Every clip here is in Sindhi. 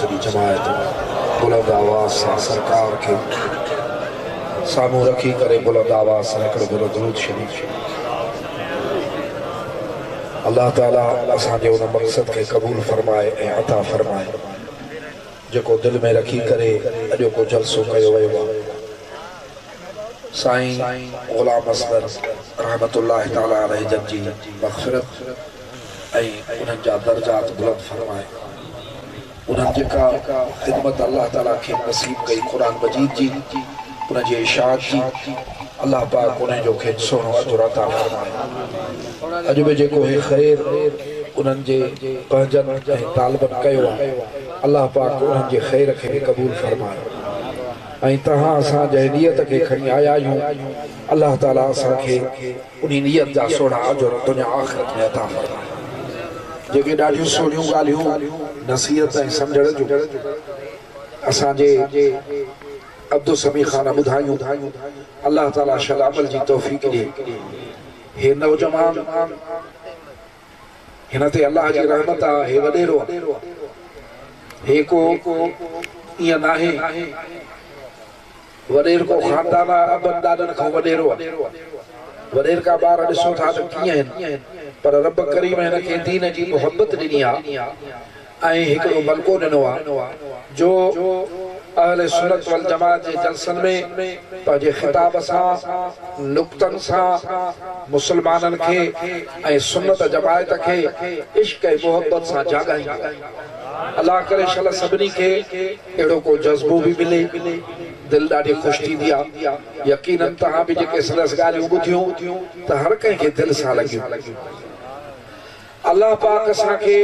سڄي جماعت بلند آواز سان سرڪار کي سامهون رکي ڪري بلند آواز سان هڪڙو ڀيرو درود شريف الله تعالي اسان جي ان مقصد کي قبول فرمائي ۽ عطا فرمائي جيڪو دل ۾ رکي ڪري اڄوڪو جلسو ڪيو ويو آ سائين غلام اصغر رحمة الله تعالٰي عليه جن جي مغفرت ۽ انهن جا درجات بلند فرمائي انهن جيڪا خدمت الله تعالٰي کين نصيب ڪئي قرآن مجيد جي ان جي اشاعت جي الله پاڪ انهن جو کين سهڻو اجر عطا فرمائي اڄ به جيڪو هي خير انهن جي پنهنجن ۽ طالبن ڪيو آ الله پاڪ انهن جي خير کي به قبول فرمائي ۽ تهان اسان جنهن نيت کي کڻي آيا آهيون الله تعالي اسان کي انهي نيت جا سهڻا اجر دنيا آخرت ۾ عطا فرمائي جيڪي ڏاڍيون سهڻيون ڳالهيون نصيحت ۽ سمجهڻ جون اسان جي عبدالسميع خان ٻڌايون الله تعالي شل عمل جي توفيق ڏي هي نوجوان هن تي الله جي رحمت آ هي وڏيرو آ هي ڪو ايئن ناهي وڏير ڪو خاندان آ ابن ڏاڏن کان وڏيرو آ وڏير ڪا ٻار ڏسو ٿا ته ڪيئن هن پر رب ڪريم هن کي دين جي محبت ڏني آ ۽ هڪڙو بلڪو ڏنو آهي جو اهل سنت والجماعت جي جلسن ۾ پنهنجي خطاب سان نڪتن سان مسلمانن کي ۽ سنت جماعت کي عشق ۽ محبت سان جاڳائيندو آهي الله ڪري شل سڀني کي اهڙو ڪو جذبو به ملي دل ڏاڍي خوش ٿيندي آهي يقينن تهان به جيڪي سندس ڳالهيون ٻڌيون ته هر ڪنهن کي دل سان لڳيون. الله پاڪ اسان کي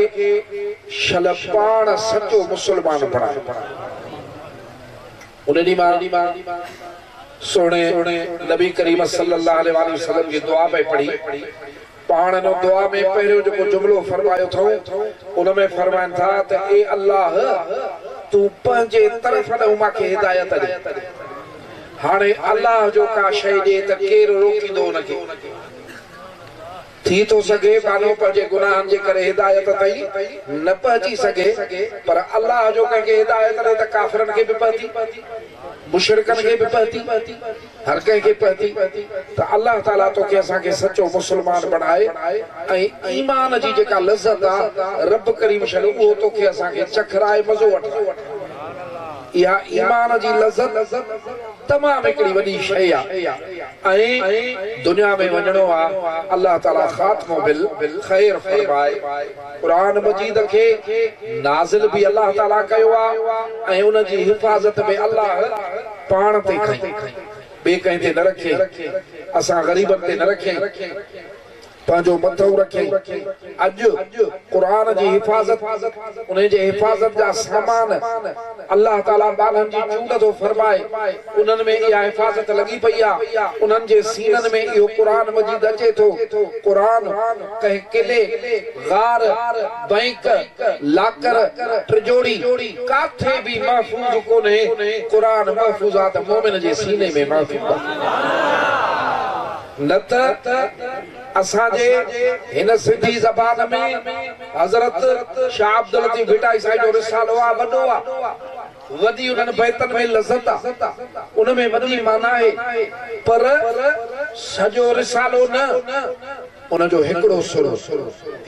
شل پاڻ سچو مسلمان بڻائي ان ڏينهن مان سهڻي نبي ڪريم صلي الله عليه واٰله وسلم جي دعا پئي پڙهي پاڻ ان دعا ۾ پهريون جيڪو جملو فرمايو اٿئون ان ۾ فرمائن ٿا ته اي الله تون پنهنجي طرف ڏانهن مان کي هدايت ڏي هاڻي الله جو ڪا شيء ڏي ته ڪير روڪيندو ان کي. ٿي ٿو سگهي ٻانهو پنهنجي گناهن جي ڪري هدايت تائين نه پهچي سگهي پر الله جو ڪنهن کي هدايت ڏي ته ڪافرن کي به پهتي، مشرڪن کي به پهتي، هر ڪنهن کي پهتي ته الله تعاليٰ توکي اسان کي سچو مسلمان بڻائي ۽ ايمان جي جيڪا لذت آ رب ڪريم شل اهو توکي اسان کي چکرائي مزو وٺرائي. اها ايمان جي لذت تمام هڪڙي وڏي شيء آ. ائين دنيا ۾ وڃڻو آ الله تعالي خاتمو بل خير فرمائي قرآن مجيد کي نازل به الله تعالي ڪيو آ ۽ ان جي حفاظت به الله پاڻ تي کنئي ٻي ڪنهن تي نه رکي اسان غريبن تي نه رکي. پنهنجو مٿئون رکيائين. اڄ قرآن جي حفاظت، انهي جي حفاظت جا سامان الله تعالي ٻانهن جي چونڊ ٿو فرمائي، انهن ۾ اها حفاظت لڳي پئي آ، انهن جي سينن ۾ اهو قرآن مجيد اچي ٿو، قرآن ڪنهن قلعي، غار، بئنڪ، لاڪر، ٽجوڙي، ڪاٿي به محفوظ ڪونهي، قرآن محفوظات مؤمن جي سيني ۾ محفوظ آ. نه ته اسان جي هن سنڌي زبان ۾ حضرت شاهه عبداللطيف ڀٽائي سائين جو رسالو آ، وڏو آ، وڏي انهن بيتن ۾ لذت آ، ان ۾ وڏي معنيٰ آهي، پر سڄو رسالو نه، ان جو هڪڙو سر،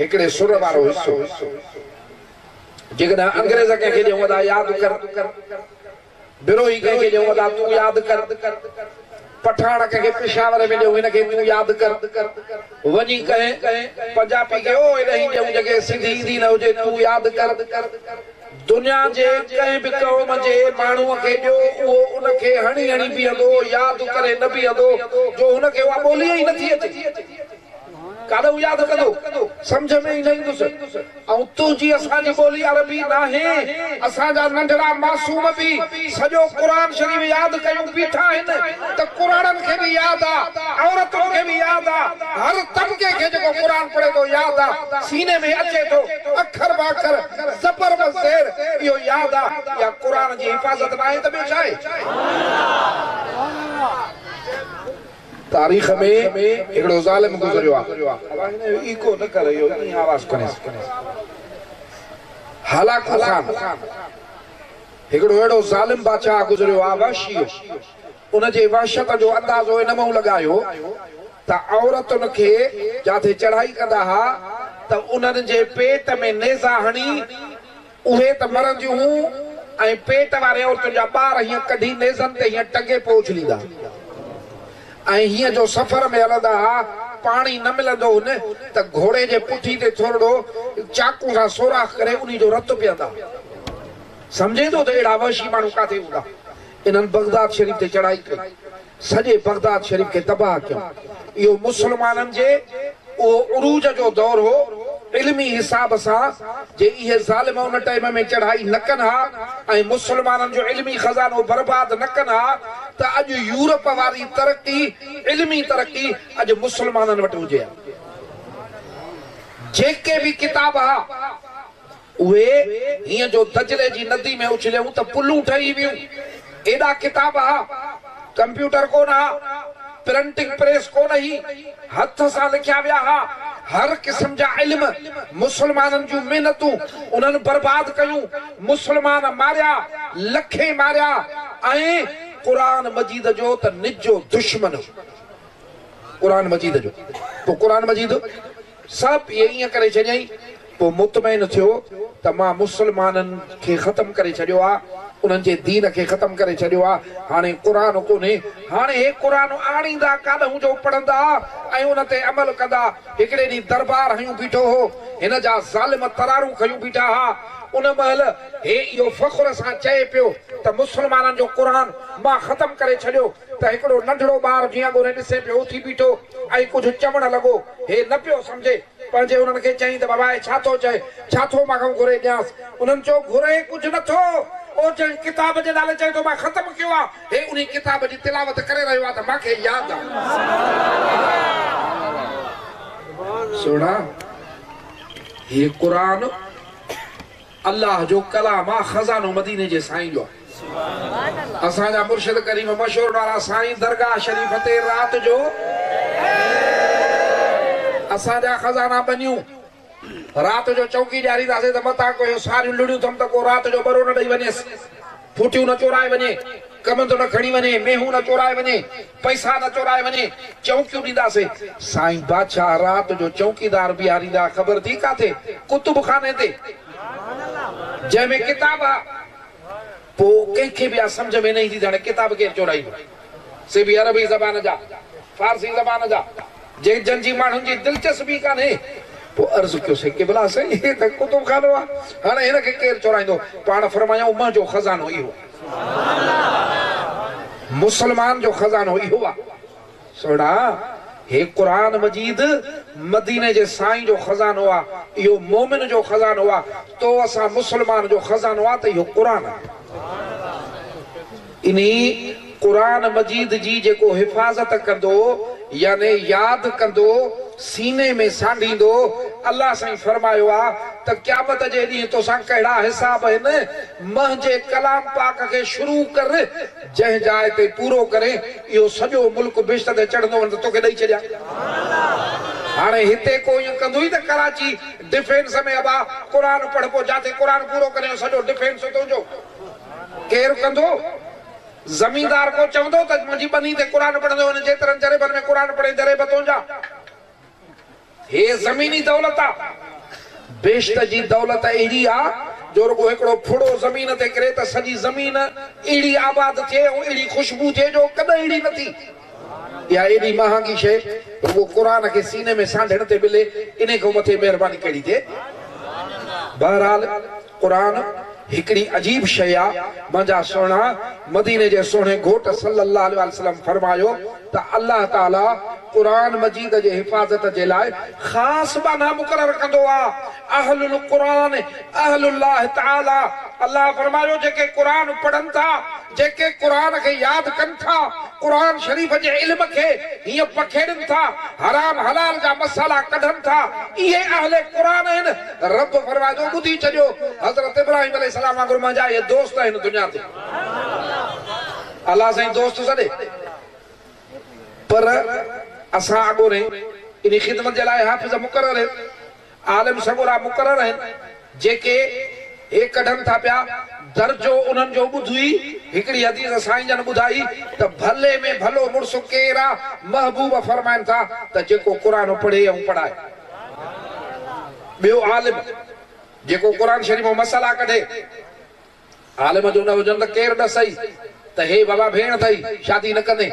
هڪڙي سر وارو حصو. جيڪڏهن انگريز ڪنهن کي ڏيون ادا ياد ڪر. بروهي ڪنهن کي ڏيون ادا تون ياد ڪر پٺاڻ ڪنهن کي پشاور ۾ ڏيون هن کي تون ياد ڪر وڃي ڪنهن پنجابي کي اوهي ڏهين ڏيون جنهنکي سنڌي ايندي نه هجي تون ياد ڪر دنيا جي ڪنهن به قوم جي ماڻهو کي ڏيو اهو ان کي هڻي هڻي بيهندو ياد ڪري نه بيهندو جو هن کي اها ٻولي ئي نٿي اچي. ڪاڏ هو ياد ڪندو، سمجهه ۾ ئي نه ايندس. ۽ تنهنجي اسان جي ٻولي عربي ناهي. اسان جا ننڍڙا معصوم به سڄو قرآن شريف ياد ڪيون بيٺا آهن ته ڪراڙن کي به ياد آ، عورتن کي به ياد آ، هر طبقي کي جيڪو قرآن پڙهي ٿو ياد آ، سيني ۾ اچي ٿو، اکر باکر، زبر بزير، اهو ياد آ. اها قرآن جي حفاظت ناهي ته ٻيو ڇا آهي؟ تاريخ ۾ هڪڙو ظالم گذريو آ. ابا هن جو ايڪو نه ڪر اهو ائين آواز کڻيس. هالاڪو خان هڪڙو اهڙو ظالم بادشاهه گذريو آ وحشي هو. ان جي وحشت جو اندازو ان مئون لڳايو ته عورتن کي جاٿي چڙهائي ڪندا ها ته انهن جي پيٽ ۾ نيزا هڻي اهي ته مرنديون هون ۽ پيٽ وارين عورتن جا ٻار هيئن ڪڍي نيزن تي هيئن ٽنگي پوء اڇليندا ۽ هيئن جو سفر ۾ هلندا ها، پاڻي نه ملندو هن ته گهوڙي جي پٺي تي ٿورڙو چاقو سان سوراخ ڪري انهي جو رت پيئندا. سمجهين ٿو ته اهڙا وحشي ماڻهو ڪاٿي هوندا؟ انهن بغداد شريف تي چڙهائي ڪئي. سڄي بغداد شريف کي تباهه ڪيم. اهو مسلمانن جي اهو عروج جو دور هو علمي حساب سان جي اهي ظالم ان ٽئيم ۾ چڙهائي نه ڪن ها ۽ مسلمانن جو علمي خزانو برباد نه ڪن ها ته اڄ يورپ واري ترقي علمي ترقي اڄ مسلمانن وٽ هجي ها. جيڪي به ڪتاب ها. اهي هينئن جو دجلي جي ندي ۾ اڇليون ته پلون ٺهي ويون. ايڏا ڪتاب ها، ڪمپيوٽر ڪونه ها، پرنٽنگ پريس ڪونه هئي، هٿ سان لکيا ويا ها، هر قسم جا علم، مسلمانن جون محنتون انهن برباد ڪيون، مسلمان ماريا، لکين ماريا ۽ قرآن مجيد جو ته نجو دشمن هو. قرآن مجيد جو. پوء قرآن مجيد. سا پيء ائين ڪري ڇڏيائين. پوء مطمئن ٿيو ته مان مسلمانن کي ختم ڪري ڇڏيو آ، انهن جي دين کي ختم ڪري ڇڏيو آ، هاڻي قرآن ڪونهي. هاڻي هي قرآن آڻيندا ڪاڏهون جو پڙهندا ۽ ان تي عمل ڪندا. هڪڙي ڏينهن دربار هنيون بيٺو هو. هن جا ظالم ترارون کنيون بيٺا ها. ان مهل هي اهو فخر سان چئي پيو ته مسلمانن جو قرآن مان ختم ڪري ڇڏيو. ته هڪڙو ننڍڙو ٻار جيئن ڳوري ڏسي پيو اٿي بيٺو ۽ ڪجهه چوڻ لڳو. هي نه پيو سمجهي پنهنجي انهن کي چئين ته بابائي ڇا ٿو چئي؟ ڇا ٿو مان کان گهري ڄانس؟ انهن چيو گهري ڪجهه نه ٿو. او جنهن ڪتاب جي نالي چئين ٿو مان ختم ڪيو آ. هي انهي ڪتاب جي تلاوت ڪري رهيو آ ته مان کي ياد آ. سهڻا هي قرآن. الله جو ڪلام آ خزانو مديني جي سائين جو آ اسان جا مرشد ڪريم مشورن وارا سائين درگاھ شريف تي رات جو اسان جا خزانا ٻنيون رات جو چوڪي ڏيارينداسين ته متان ڪو اهو ساريون لڙيون ٿم ته ڪو رات جو ٻرو نه ڏئي وڃيس. ڦوٽيون نه چورائي وڃي، ڪمند نه کڻي وڃي، مينهون نه چورائي وڃي، پئسا نه چورائي وڃي، چونڪيون ڏينداسين. سائين بادشاهه رات جو چونڪيدار بيهاريندا، خبر ٿي ڪاٿي؟ ڪتب خاني تي، جنهن ۾ ڪتاب ها. پوء ڪنهن کي به اها سمجهه ۾ نه ايندي ته هاڻي ڪتاب ڪير چورائيندو. سي به عربي زبان جا، فارسي زبان جا، جنهن جن جي ماڻهن جي دلچسپي ڪانهي. پوء عرض ڪيو سي قبلا سائين هي ته ڪتب خانو آ، هاڻي هن کي ڪير چورائيندو؟ پاڻ فرمايائون منهنجو خزانو اهو آ. مسلمان جو خزانو اهو آ. سهڻا! هي قرآن مجيد مديني جي سائين جو خزانو آ، اهو مومن جو خزانو آ، تو اسان مسلمان جو خزانو آ ته اهو قرآن آ. انهي، قرآن مجيد، جي جيڪو حفاظت ڪندو، يعني ياد ڪندو، سيني ۾ سانڍيندو، الله سائين فرمايو آ ته قيامت جي ڏينهن توسان ڪهڙا حساب هن، منهنجي ڪلام پاڪ کي شروع ڪر، جنهن جاء تي پورو ڪرين، اهو سڄو ملڪ بهشت تي چڙهندو وڃ ته توکي ڏئي ڇڏيان. هاڻي هتي ڪو ائين ڪندوئي ته ڪراچي ڊفينس ۾ ابا قرآن پڙهه پوء جاٿي قرآن پورو ڪرين اهو سڄو ڊفينس تنهنجو. ڪير ڪندو؟ زميندار ڪو چوندو ته منهنجي ٻني تي قرآن پڙهندو هن جيترن جريبن ۾ قرآن پڙهي جريب تنهنجا. هيء زميني دولت آ. بهشت جي دولت اهڙي آ جو رڳو هڪڙو ڦڙو زمين تي ڪري ته سڄي زمين اهڙي آباد ٿئي ۽ اهڙي خوشبو ٿئي جو ڪڏهن اهڙي نه ٿي. اها ايڏي مهانگي شيء رڳو قرآن کي سيني ۾ سانڍڻ تي ملي انهي کان مٿي مهرباني ڪهڙي ٿئي؟ بهرحال! قرآن هڪڙي عجيب شيء آ، منهنجا سهڻا، مديني جي سهڻي گهوٽ صلّي الله عليه وآله وسلّم فرمايو ته الله تعالٰي قرآن مجيد جي حفاظت جي لاء خاص ٻانها مقرر ڪندو آ، اهل القرآن اهل الله تعالٰي، الله فرمايو جيڪي قرآن پڙهن ٿا، جيڪي قرآن کي ياد ڪن ٿا، قرآن شريف جي علم کي هيئن پکيڙين ٿا، حرام حلال جا مسئلا ڪڍن ٿا، اهي اهل قرآن آهن، رب فرمائي ٿو، ٻڌي ڇڏيو، حضرت ابراهيم عليه السلام وانگر منهنجا اهي دوست آهن دنيا تي. الله سائين دوست سڏي، پر اسان اڳورين انهي خدمت جي لاء حافظ مقرر آهيون. عالم سڳورا مقرر آهن، جيڪي هي ڪڍن ٿا پيا، درجو انهن جو ٻڌوئي، هڪڙي حديث سائين جن ٻڌائي ته ڀلي ۾ ڀلو مڙس ڪير آ؟ محبوب فرمائن ٿا ته جيڪو قرآن پڙهي ۽ پڙهائي. ٻيو عالم جيڪو قرآن شريف مان مسئلا ڪڍي. عالم جو نه هجن ته ڪير ڏسئي ته هي ووا ڀيڻ اٿئي، شادي نه ڪندين،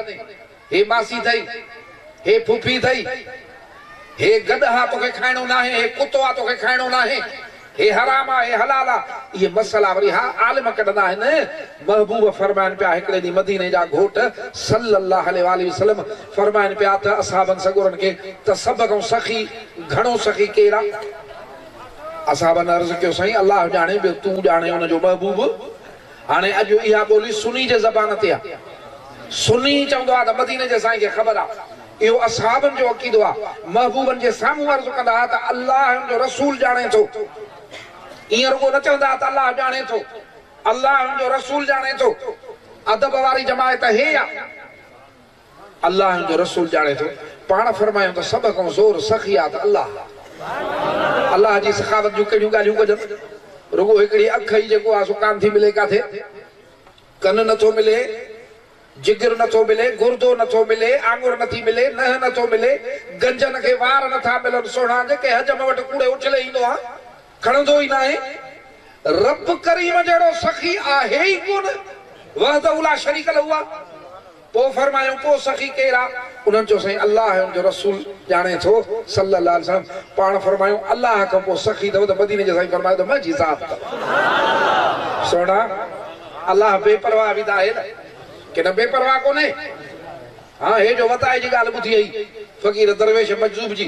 هي ماسي اٿئي، هي ڦوڦي اٿئي، هي گڏ آ، توکي کائڻو ناهي، هي ڪتو آ، توکي کائڻو ناهي، هي حرام آ، هي حلال آ، اهي مسئلا وري ها عالم ڪڍندا آهن. محبوب فرمائن پيا، هڪڙي ڏينهن مديني جا گهوٽ صلّي الله عليه واٰله وسلّم فرمائن پيا ته اصحابن سڳورن کي ته سڀ کان سخي، گهڻو سخي ڪير آ؟ اصحابن عرض ڪيو سائين الله ڄاڻي ٻيو تون ڄاڻين ان جو محبوب هاڻي اڄ اها ٻولي سني جي زبان تي آ سني چوندو آ ته مديني جي سائين کي خبر آ اهو اصحابن جو عقيدو آ محبوبن جي سامهون عرض ڪندا ها ته الله ۽ ان جو رسول ڄاڻي ٿو ائين رڳو نه چوندا ها ته الله ڄاڻي ٿو الله ۽ ان جو رسول ڄاڻي ٿو ادب واري جماعت هي آ. الله ۽ ان جو رسول ڄاڻي ٿو. پاڻ فرمايو ته سڀ کان زور سخي آ ته الله آ. الله جي سخاوت جون ڪهڙيون ڳالهيون ڪجن؟ رڳو هڪڙي اک ئي جيڪو آ سو ڪانه ٿي ملي ڪاٿي. ڪن نه ٿو ملي، جگر نه ٿو ملي، گردو نه ٿو ملي، آڱر نه ٿي ملي، ننهن نه ٿو ملي، گنجن کي وار نه ٿا ملن، سهڻا جيڪي حجم وٽ ڪوڙي اڇلي ايندو آ. کڻندو ئي ناهي، رب ڪريم جهڙو سخي آهي ئي ڪونه وحده لا شريڪ له آ، پوء فرمايائون پوء سخي ڪير آ؟ انهن چيو سائين الله ۽ ان جو رسول ڄاڻي ٿو صلّي الله عليه وسلّم پاڻ فرمايائون الله کان پوء سخي اٿو ته مديني جي سائين فرمايو ته منهنجي ذات ته سهڻا الله بي پرواهه به ته آهي نه ڪي نه بي پرواهه ڪونهي هان هي جو وتائي جي ڳالهه ٻڌي هئي فقير درويش مجذوب جي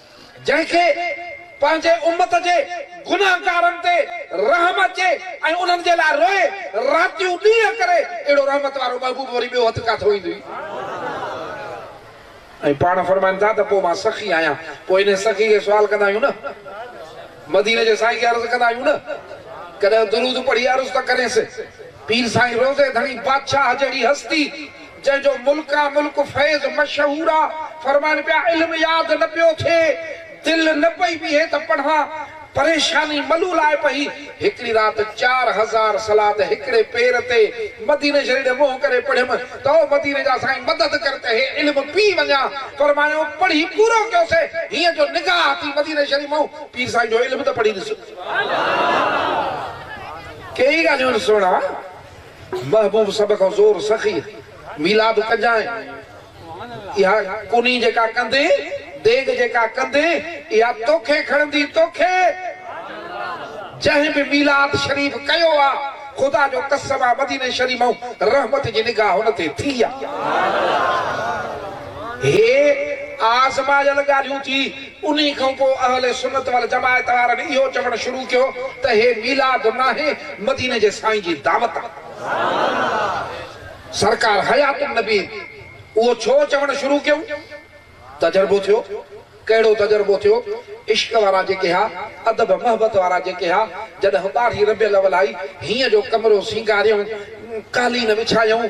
جنهن کي پنهنجي امت جي گنهگارن تي رحم اچي ۽ انهن جي لاء روئي، راتيون ڏينهن ڪري، اهڙو رحمت وارو محبوب وري ٻيو هٿ ڪاٿو ايندو ئي؟ ۽ پاڻ فرمائن ٿا ته پوء مان سخي آهيان، پوء انهي سخي کي سوال ڪندا آهيون نه، مديني جي سائين کي عرض ڪندا آهيون نه، ڪڏهن درود پڙهي عرض ته ڪرينس، پير سائين روضي ڌڻي بادشاهه جهڙي هستي، جنهن جو ملڪان ملڪ فيض مشهور آ، فرمان پيا علم ياد نه پيو ٿئي، دل نه پئي بيهي ته پڙهان، پريشاني ملول آئي پئي، هڪڙي رات چار هزار صلات هڪڙي پير تي مديني شريف ڏي منهن ڪري پڙهيم ته او مديني جا سائين مدد ڪر ته هي علم پي وڃان، فرمايائون پڙهي پورو ڪيوسين، هينئر جو نگاهه ٿي مديني شريف مئو پير سائين جو علم ته پڙهي ڏس. ڪيئي ڳالهيون آهن سهڻا. محبوب سڀ کان زور سخي ميلاد ڪجانء اها ڪني جيڪا ڪندي ديڳ جيڪا ڪندي اها توکي کڻندي توکي جنهن به ميلاد شريف ڪيو آ خدا جو قسم آ مديني شريف مئون رحمت جي نگاهه هن تي ٿي آ هي آزمايل ڳالهيون ٿي انهي کان پوء اهل سنت والجماعت وارن اهو چوڻ شروع ڪيو ته هي ميلاد ناهي مديني جي سائين جي دعوت آهي. سرڪار حيات النبي اهو ڇو چوڻ شروع ڪيو؟ تجربو ٿيو. ڪهڙو تجربو ٿيو؟ عشق وارا جيڪي ها، ادب محبت وارا جيڪي ها، جڏهن ٻارهين ربيع الاول آئي، هينء جو ڪمرو سينگاريائون، قالين وڇايائون،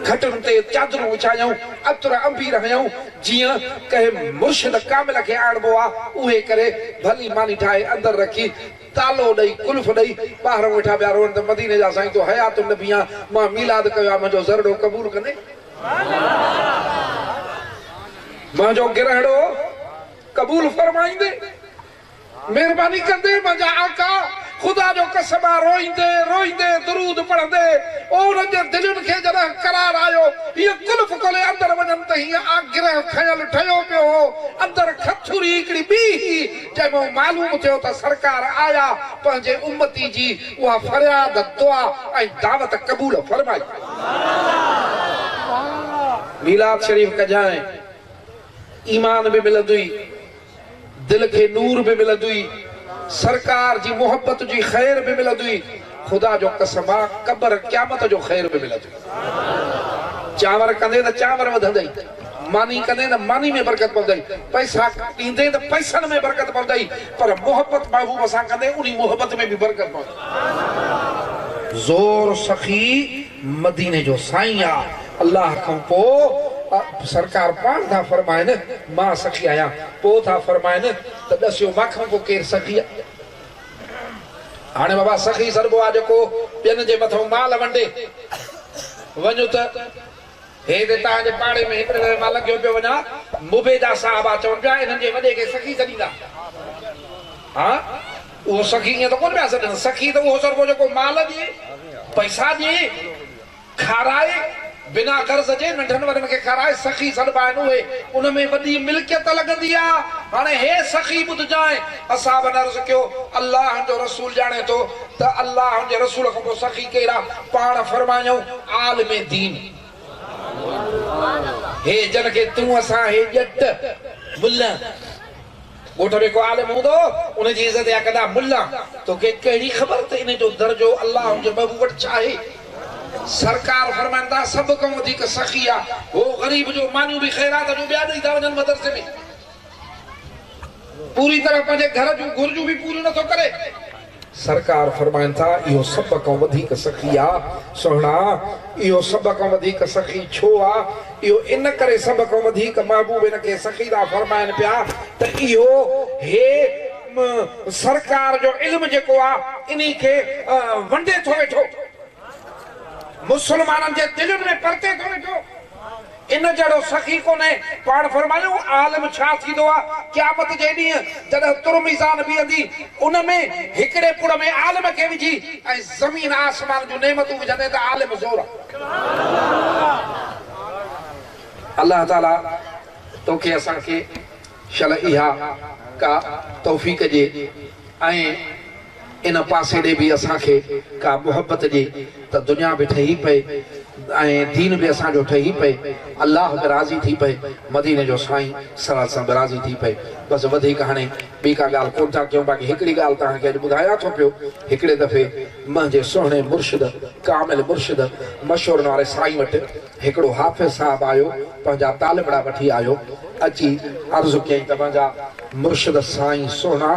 کٽن تي چادرون وڇايائون، عطر، عنبير هنيائون، جيئن ڪنهن مرشد ڪامل کي آڻبو آ اهي ڪري ڀلي ماني ٺاهي اندر رکي تالو ڏئي قلف ڏئي ٻاهرئون ويٺا پيا روئن ته مديني جا سائين تو حيات النبي آن مان ميلاد ڪيو آ منهنجو زرڙو قبول ڪندين منهنجو گرهڙو قبول فرمائيندين. مهرباني ڪندي منهنجا آقا! خدا جو قسم آ روئيندي روئيندي درود پڙهندي او انهن جي دلين کي جڏهن قرار آيو هيء قلف کولي اندر وڃن ته هيء آ گرهه کنيل ٺهيو پيو هو اندر کٿوري هڪڙي ٻي هئي جنهن مان معلوم ٿيو ته سرڪار آيا پنهنجي امتي جي اها فرياد دعا ۽ دعوت قبول فرمائي. سبحان الله. ميلاد شريف ڪجانء ايمان به ملندوئي دل کي نور به ملندوئي سرڪار جي محبت جي خير به ملندوئي خدا جو قسم آ قبر قيامت جو خير به ملندوئي چانور ڪندين ته چانور وڌندئي ماني ڪندين ته ماني ۾ برڪت پوندئي پئسا ڏيندين ته پئسن ۾ برڪت پوندئي پر محبت محبوب سان ڪندين انهي محبت ۾ به برڪت پوندئي زور سخي مديني جو سائين آ الله کان پو سرڪار پاڻ ٿا فرمائن مان سخي آهيان پو ٿا فرمائن ته ڏسيو مان کان پو ڪير سخي آ هاڻي بابا سخي سڏبو آ جيڪو ٻين جي مٿئون مال ونڊي وڃ ته هي ته توهان جي پاڙي ۾ هڪڙي دفعي مان لنگهيو پيو وڃان، مبيدا صاحبه چون پيا، انهن جي وڏي کي سخي سڏيندا. ها، اهو سخي ائين ته ڪونه پيا سڏن، سخي ته اهو سرڳو جيڪو مال ڏي، پئسا ڏي، کارائي، بنا غرض جي ننڍن وڏن کي کارائي، سخي سڏبا آهن اهي، ان ۾ وڏي ملڪيت لڳندي آ، هاڻي هي سخي ٻڌجانء. اصحابن عرض ڪيو، الله جو رسول ڄاڻي ٿو ته الله ان جي رسول کان پوء سخي ڪير آ؟ پاڻ فرمايائون عالم دين هي جن کي تون اسان هي ڄٽ ملان ڳوٺ ۾ ڪو عالم هوندو ان جي عزت يا ڪندا ملان توکي ڪهڙي خبر ته ان جو درجو الله ان جي محبوب وٽ ڇا آهي سرڪار فرمائن ٿا سڀ کان وڌيڪ سخي آ هو غريب جو مانيون به خيرات جون ٻيا ڏئي ٿا وڃن مدرسي ۾ پوري طرح پنهنجي گهر جون گهرجون به پوريون نٿو ڪري. سرڪار فرمائن ٿا، اهو سڀ کان وڌيڪ سخي آ، سهڻا! اهو سڀ کان وڌيڪ سخي ڇو آ؟ اهو ان ڪري سڀ کان وڌيڪ محبوب هن کي سخي ٿا فرمائن پيا ته اهو هي سرڪار جو علم جيڪو آ، انهي کي ونڊي ٿو ويٺو، مسلمانن جي دلين ۾ پرتي ٿو ويٺو. ان جهڙو سخي ڪونهي. پاڻ فرمايو، عالم ڇا ٿيندو آ؟ قيامت جي ڏينهن جڏهن تر ميزان بيهندي، ان ۾ هڪڙي پڙ ۾ عالم کي وجهي ۽ زمين آسمان جون نعمتون وجهندين ته عالم زورا. الله تعاليٰ توکي اسان کي شل اها ڪا توفيق ڏي ۽. ان پاسيڙي به اسان کي ڪا محبت ڏي ته دنيا به ٺهي پئي ۽ دين به اسان جو ٺهي پئي الله به راضي ٿي پئي مديني جو سائين صلي الله عليه وسلم به راضي ٿي پئي بس وڌيڪ هاڻي ٻي ڪا ڳالهه ڪونه ٿا ڪيون باقي هڪڙي ڳالهه توهان کي اڄ ٻڌايان ٿو پيو هڪڙي دفعي منهنجي سهڻي مرشد ڪامل مرشد مشورن واري سائين وٽ هڪڙو حافظ صاحب آيو، پنهنجا طالبڙا وٺي آيو، اچي عرض ڪيائين ته منهنجا مرشد سائين سهڻا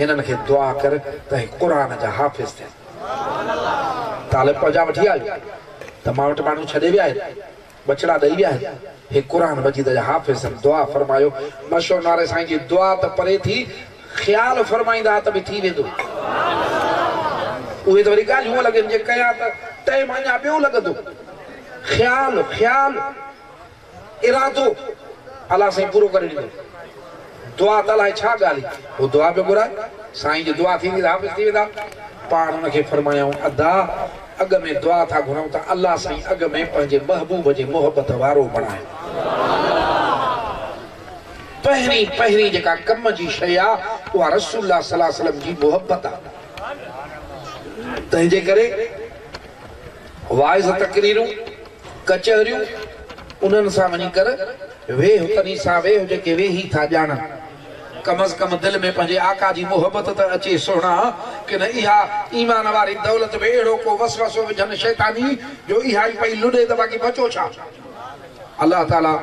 هنن کي دعا ڪر ته هي قرآن جا حافظ ٿين. طالب پنهنجا وٺي آيو ته مان وٽ ماڻهو ڇڏي ويا آهن، ٻچڙا ڏئي ويا آهن، هي قرآن مجيد جا حافظ آهن، دعا فرمايو. مشهور ناري سائين جي دعا ته پري ٿي، خيال فرمائيندا ته به ٿي ويندو. اهي ته وري ڳالهيون هونئن لڳين جي ڪيا ته ٽيم اڃا ٻيو لڳندو. خيال، خيال، ارادو الله سائين پورو ڪري ڏيندو. دعا ته الاهي ڇا ڳالهه هئي. هو دعا پيو گهرائي. سائين جي دعا ٿيندي ته حافظ ٿي ويندا. پاڻ هن کي فرمايائون ادا اڳ ۾ دعا ٿا گهرئون ته الله سائين اڳ ۾ پنهنجي محبوب جي محبت وارو بڻايو. پهرين پهرين جيڪا ڪم جي شيء آ اها رسول الله صلي الله عليه وسلم جي محبت آ. تنهنجي ڪري واعظ تقريرون، ڪچهريون انهن سان وڃي ڪر، ويهه تنهين سان ويهه جيڪي ويهي ٿا ڄاڻن. ڪم از ڪم دل ۾ پنهنجي آقا جي محبت ته اچي سهڻا، ڪن اها ايمان واري دولت به اهڙو ڪو وسوسو وجهن شيطاني جو اها ئي پئي لڏي ته باقي بچو ڇا؟ الله تعاليٰ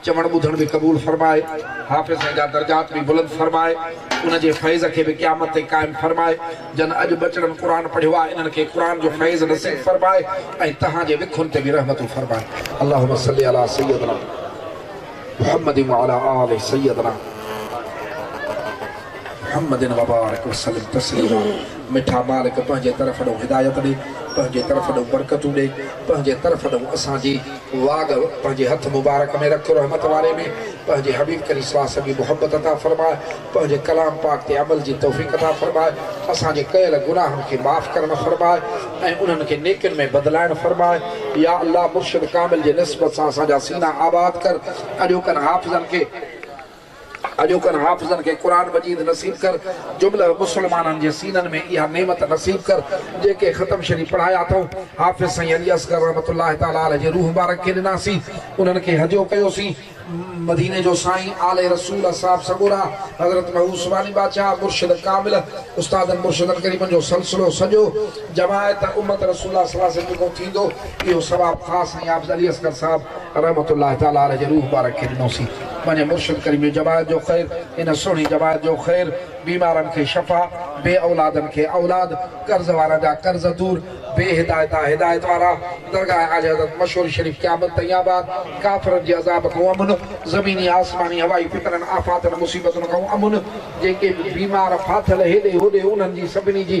چوڻ ٻڌڻ به قبول فرمائي، حافظ سائين جا درجات به بلند فرمائي، ان جي فيض کي به قيامت تائين قائم فرمائي، جن اڄ ٻچڙن قرآن پڙهيو آهي، انهن کي قرآن جو فيض نصيب فرمائي ۽ توهان جي وکن تي به رحمتون فرمائي. اللهم صلّي علي سيّدنا محمّد وعلي آل سيّدنا محمّد وبارڪ وسلّم تسلّيما مٺا مالڪ پنهنجي طرف ڏانهن هدايت ڏي، پنهنجي طرف ڏانهن برڪتون ڏي، پنهنجي طرف ڏانهن اسان جي. واڳ پنهنجي هٿ مبارڪ ۾ رک رحمت واري ۾ پنهنجي حبيب ڪريم صلي وسلم جي محبت عطا فرماء پنهنجي ڪلام پاڪ تي عمل جي توفيق عطا فرماء اسان جي ڪيل گناهن کي معاف ڪرڻ فرماء ۽ انهن کي نيڪين ۾ بدلائڻ فرماء يا الله مرشد ڪامل جي نسبت سان اسان جا سينا آباد ڪر اڄوڪن حافظن کي اڄوڪن حافظن کي قرآن مجيد نصيب ڪر، جمله مسلمانن جي سينن ۾ اها نعمت نصيب ڪر، جيڪي ختم شريف پڙهايا اٿئون، حافظ سائين علي اصغر رحمة الله تعالٰي عليه جي روح مبارڪ کي ڏناسين، انهن کي هجو ڪيوسين، مديني جو سائين، آل رسول، اصحاب سڳورا، حضرت محوس والي بادشاهه، مرشد ڪامل، استادن مرشدن غريبن جو سلسلو سڄو، جماعت، امت رسول الله صلعم جيڪو ٿيندو، اهو ثواب خاص سائين حافظ علي اصغر صاحب. رحمة الله تعالٰي عليه جي روح مبارڪ کي ڏنوسين پنهنجي مرشد ڪريم جي جماعت جو خير ان سهڻي جماعت جو خير بيمارن کي شفا بي اولادن کي اولاد قرض وارن جا قرض دور بي هدايتان هدايت وارا درگاهه اعلي حضرت مشهور شريف قيامت تائين آباد ڪافرن جي عذاب کان امن زميني آسماني هوائي فتنن آفاتن مصيبتن کان امن جيڪي به بيمار ڦاٿل هيڏي هوڏي انهن جي سڀني جي